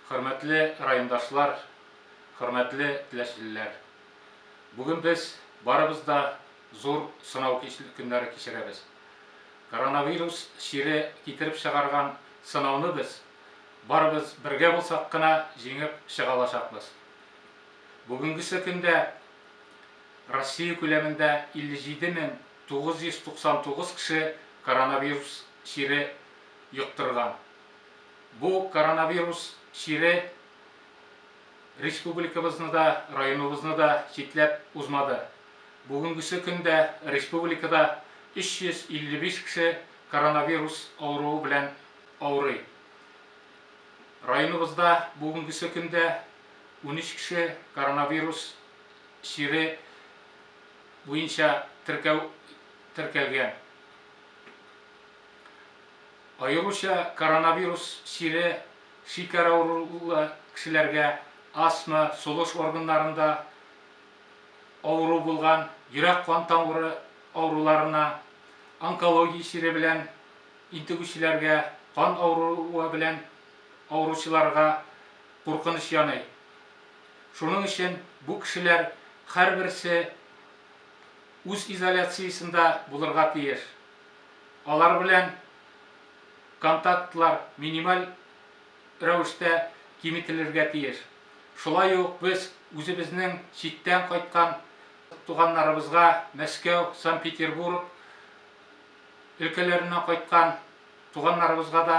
Хөрмәтле райондашлар, хөрмәтле теләчлеләр! Бүген без барыбыз да зур сынау көннәре кичерәбез. Коронавирус чире китереп чыгарган сынауны без, барыбыз бергә булсак кына, җиңеп чыга алачакбыз. Бүгенгесе көндә Россия күләмендә 57999 кеше коронавирус чире йоктырган. Бу коронавирус чире республикабызны да, районыбызны да читләп узмады. Бүгенгесе көндә республикада 355 кеше коронавирус авыруы белән авырый. Районыбызда бүгенгесе көндә унөч кеше коронавирус чире буенча теркәү теркәлгән. Аеруча коронавирус чире шикәр авырулы кешеләргә, астма, сулыш органнарында авыру булган, йөрәк-кан тамыры авыруларына, онкология чире белән интегүчеләргә, кан авыруы белән авыручыларга куркыныч яный. Шуның өчен бу кешеләр һәрберсе үз изоляциясендә булырга тиеш. Алар белән контактлар минималь рәвештә киметелергә тиеш. Шулай ук без үзебезнең читтән кайткан туганнарыбызга, Мәскәү, Санкт-Петербург өлкәләреннән кайткан туганнарыбызга да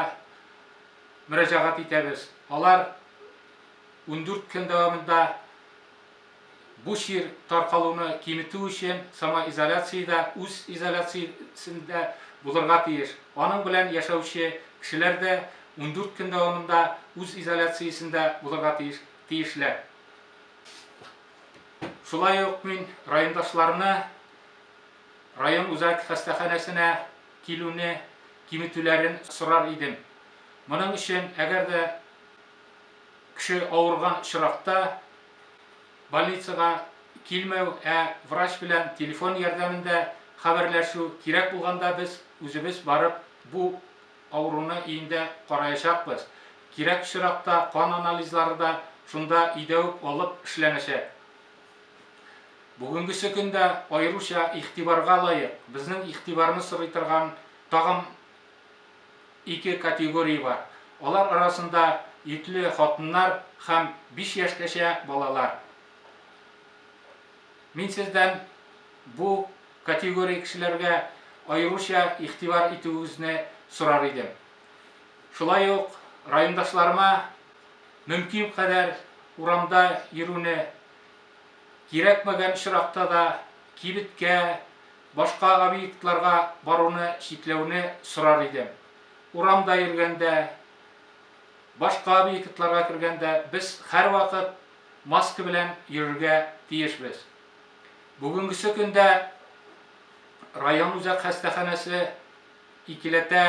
мөрәҗәгать итәбез. Алар ундүрт көн дәвамында Бу чир таркалуны киметү өчен самоизоляция дә үз изоляциясендә булырга тиеш. Аның белән яшәүче кешеләр дә ундүрт көн дәвамында үз изоляциясендә булырга тиешләр. Шулай ук мин райондашларны район үзәк хастаханәсенә килүне киметүләрен сорар идем. Моның өчен, әгәр дә. Кеше авырган очракта больницага килмәү, ә врач белән телефон ярдәмендә хәбәрләшү, кирәк булганда без үзебез барып бу авыруны өендә караячакбыз. Кирәк очракта кан анализлары да шунда өйдә үк алып эшләнәчәк. Бүгенгесе көн дә аеруча игътибарга лаек, безнең игътибарны сорый торган тагын Ике категория бар. Алар арасында йөкле хатыннар һәм биш яшькәчә балалар. Мин сездән бу категория кешеләргә аеруча игътибар итүегезне сорар идем. Шулай ук райондашларыма мөмкин кадәр урамда йөрүне, кирәкмәгән очракта да кибеткә, Башка объектларга баруны чикләүне сорар идем. Урамда йөргәндә, башка объектларга кергәндә без һәрвакыт маска белән йөрергә тиешбез. Бүгенгесе көндә район үзәк хастаханәсе икеләтә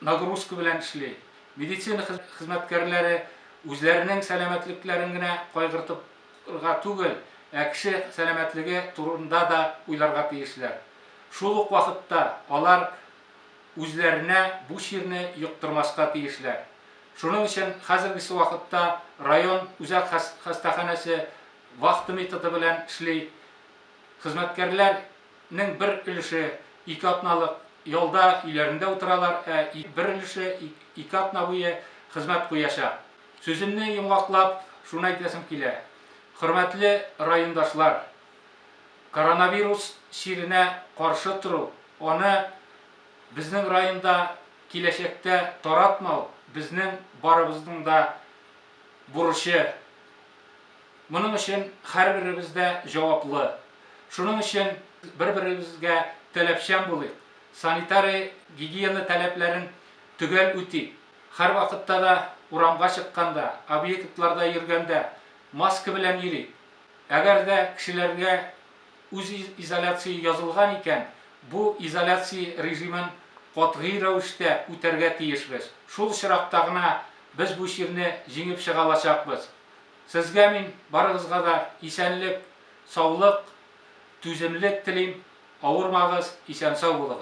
нагрузка белән эшли. Медицина хезмәткәрләре үзләренең сәламәтлекләрен генә кайгыртып Га түгел, ә кеше сәламәтлеге турында да уйларга тиешләр. Шул ук вакытта алар үзләренә бу чирне йоктырмаска тиешләр. Шуның өчен хәзергесе вакытта район үзәк хастаханәсе вахта методы белән эшли. Хезмәткәрләр нең бер өлеше ике атналык ялда өйләрендә утыралар, ә бер өлеше ике атна буе хезмәт куячак. Сүземне йомгаклап, шуны әйтәсем килә, хөрмәтле райондашлар, коронавирус чиренә каршы тору, аны безнең районда киләчәктә таратмау, безнең барыбызның да бурычы. Моның өчен һәрберебез дә җаваплы. Шуның өчен бер-беребезгә таләпчән булыйк, санитария-гигиена таләпләрен төгәл үтик. Һәрвакытта да урамга чыкканда, объектларда йөргәндә маска белән йөрик. Әгәр дә кешеләргә үз изоляция язылган икән, бу изоляция режимын катгый рәвештә үтәргә тиешбез. Шул очракта гына без бу чирне җиңеп чыга алачакбыз. Сезгә мин барыгызга да исәнлек, саулык, түземлек телим, авырмагыз, исән-сау булыгыз.